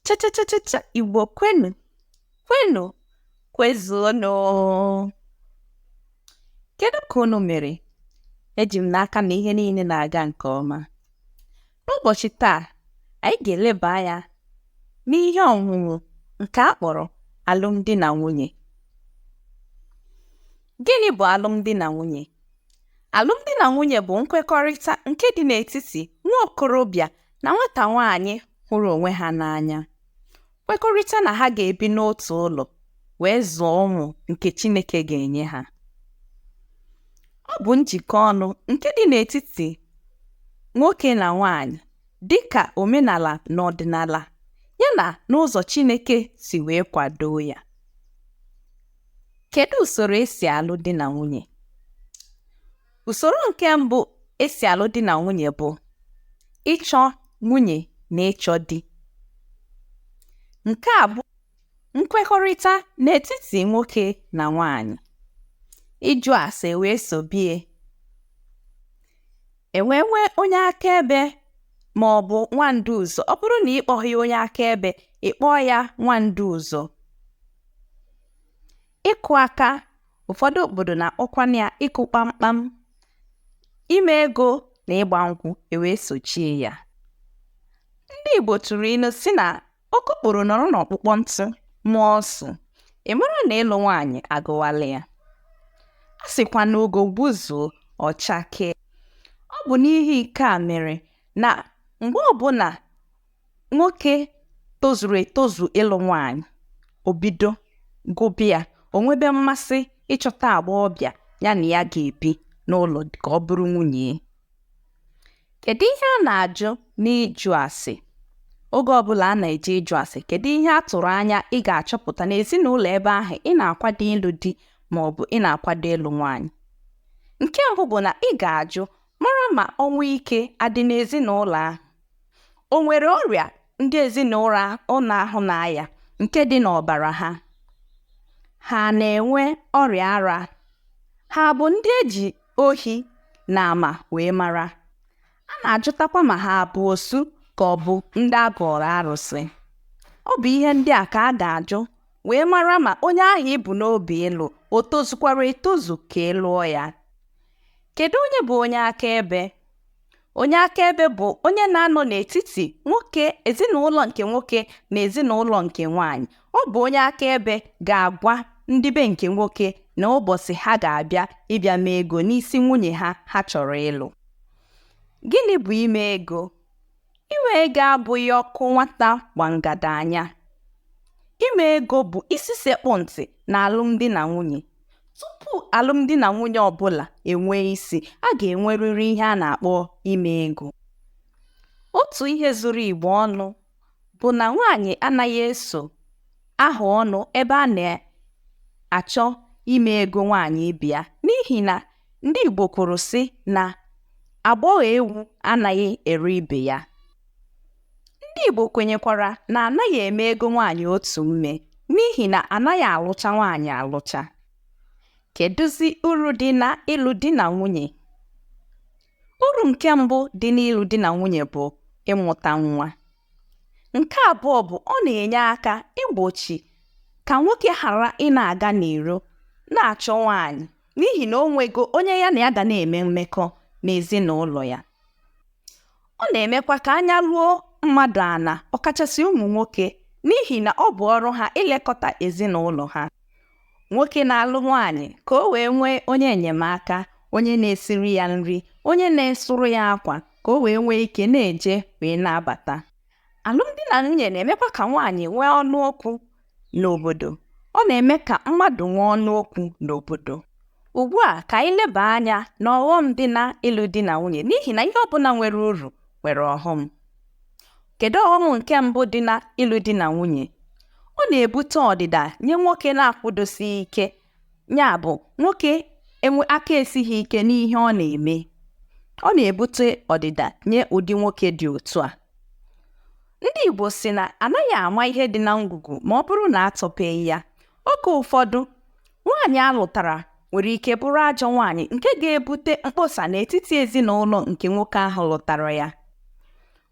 cha cha cha cha cha igbo kwenu kwenu kwezuonụ kedu ka unu mere eji m n'aka na ihe niile na-aga nke ọma n'ụbọchị taa anyị ga-eleba anya n'ihe ọṅụṅụ nke a kpọrọ alụmdi na nwunye gịnị bụ alụmdi na nwunye alụmdi na nwunye bụ nkwekọrịta nke dị n'etiti nwa okorobịa na nwata nwaanyị hụrụ onwe ha n'anya kwekọrịta na ha ga-ebi n'otu ụlọ wee zụọ ụmụ nke Chineke ga-enye ha ọ bụ njikọ ọnụ nke dị n'etiti nwoke na nwaanyị dị ka omenala na ọdịnala yana n'ụzọ Chineke si wee kwadoo ya kedu usoro e si alụ di na nwunye Usoro nke mbụ e si alụ di na nwunye bụ ịchọ nwunye na ịchọ di. Nke a bụ nkwekọrịta n'etiti nwoke na nwaanyị. Ịjụ ase wee sobie. E nwee onye akaebe ma ọ bụ nwandu ụzọ. Ọ bụrụ na ị kpọghị ya onye akaebe, ị kpọọ ya nwandu ụzọ. ịkụ aka ụfọdụ obodo na-akpọkwana ya ịkụ kpamkpam ime ego na ịgba nkwụ ewee sochie ya ndị Igbo tụrụ ilu sị na okokporo nọrọ n'ọkpụkpọ ntụ maa ọsụ ị mara na ịlụ nwaanyị agụwala ya a sịkwa na ugo gbuzuo ọ chakee ọ bụ n'ihi nke a mere na mgbe ọbụla nwoke tozuru etozu ịlụ nwaanyị o bido gụba ya o nwebe mmasị ịchọta agbọghọbịa ya na ya ga-ebi n'ụlọ ka ọ bụrụ nwunye ya kedu ihe a na-ajụ n'ịjụ ase oge ọbụla a na-eje ịjụ ase kedu ihe a tụrụ anya ị ga-achọpụta n'ezinụlọ ebe ahụ ị na-akwado ịlụ di ma ọ bụ ị na-akwado ịlụ nwaanyị nke mbụ bụ na ị ga-ajụ Mara ma ọnwụ ike adị n'ezinụlọ ahụ. O nwere ọrịa ndị ezinụlọ ahụ na-aya nke dị n'ọbara ha? Ha na-enwe ọrịa ara? Ha bụ ndị e ji ohi na ama wee mara? A na-ajụtakwa ma ha bụ osu ka ọ bụ ndị a gọọrọ arụsị. Ọ bụ ihe ndị a ka a ga-ajụ wee mara ma onye ahụ i bu n'obi ịlụ o tozukwara etozu ka ị lụọ ya. Kedu onye bụ onye akaebe? Onye akaebe bụ onye na-anọ n'etiti nwoke ezinụlọ nke nwoke na ezinụlọ nke nwaanyị. Ọ bụ onye akaebe ga-agwa ndị be nke nwoke na ụbọchị ha ga-abịa ịbịa mee ego n'isi nwunye ha ha chọrọ ịlụ. Gịnị bụ ime ego? Ime ego abụghị ọkụ nwata gba ngada anya. Ime ego bụ isi sekpụ ntị na alụmdi na nwunye. Tupu alụmdi na nwunye ọbụla enwee isi, a ga-enwerịrị ihe a na-akpọ ime ego. Otu ihe zuru Igbo ọnụ bụ na nwaanyị anaghị eso aha ọnụ ebe a na-achọ ime ego nwaanyị ibe ya n'ihi na ndị Igbo kwuru sị na agbọghọ ewu anaghị ere ibe ya ndị Igbo kwenyekwara na anaghị eme ego nwaanyị otu mme n'ihi na anaghị alụcha nwaanyị alụcha kedụzi uru dị na ịlụ di na nwunye uru nke mbụ dị n'ịlụ di na nwunye bụ ịmụta nwa nke abụọ bụ ọ na-enye aka igbochi ka nwoke ghara ịna-aga n'iro na-achọ nwaanyị n'ihi na o nwego onye ya na ya ga na-eme mmekọ n'ezinụlọ ya ọ na-emekwa ka anya ruo mmadụ ana ọkachasị ụmụ nwoke n'ihi na ọ bụ ọrụ ha ilekọta ezinụlọ ha nwoke na-alụ nwaanyị ka o wee nwee onye enyemaka onye na-esiri ya nri onye na-esụrụ ya akwa ka o wee nwee ike na-eje wee na-abata alụmdi na nwunye na-emekwa ka nwaanyị nwee ọnụ okwu n'obodo ọ na-eme ka mmadụ nwee ọnụ okwu n'obodo ugbu a ka anyị leba anya na ọghọm dị na ịlụ di na nwunye n'ihi na ihe ọbụla nwere uru nwere ọghọm kedu ọghọm nke mbụ dị na ịlụ di na nwunye ọ na-ebute ọdịda nye nwoke na-akwụdosighị ike ya bụ nwoke enwe aka esighị ike n'ihe ọ na-eme ọ na-ebute ọdịda nye ụdị nwoke dị otu a ndị Igbo sị na anaghị ama ihe dị na ngwugwu ma ọ bụrụ na atọpeghị ya oge ụfọdụ nwaanyị alụtara nwere ike bụrụ ajọ nwaanyị nke ga-ebute mkpọsa n'etiti ezinụlọ nke nwoke ahụ lụtara ya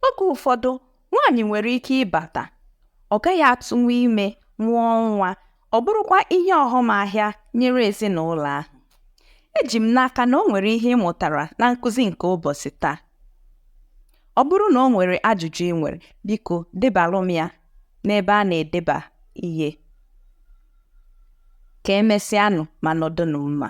oge ụfọdụ nwaanyị nwere ike ịbata ọ gaghị atụnwu ime mụọ nwa ọ bụrụkwa ihe ọghọm ahịa nyere ezinụlọ ahụ eji m n'aka na o nwere ihe ị mụtara na nkụzi nke ụbọchị taa ọ bụrụ na o nwere ajụjụ ị nwere biko debalụ m ya n'ebe a na-edeba ihe ka emesịanụ ma nọdụnụ mma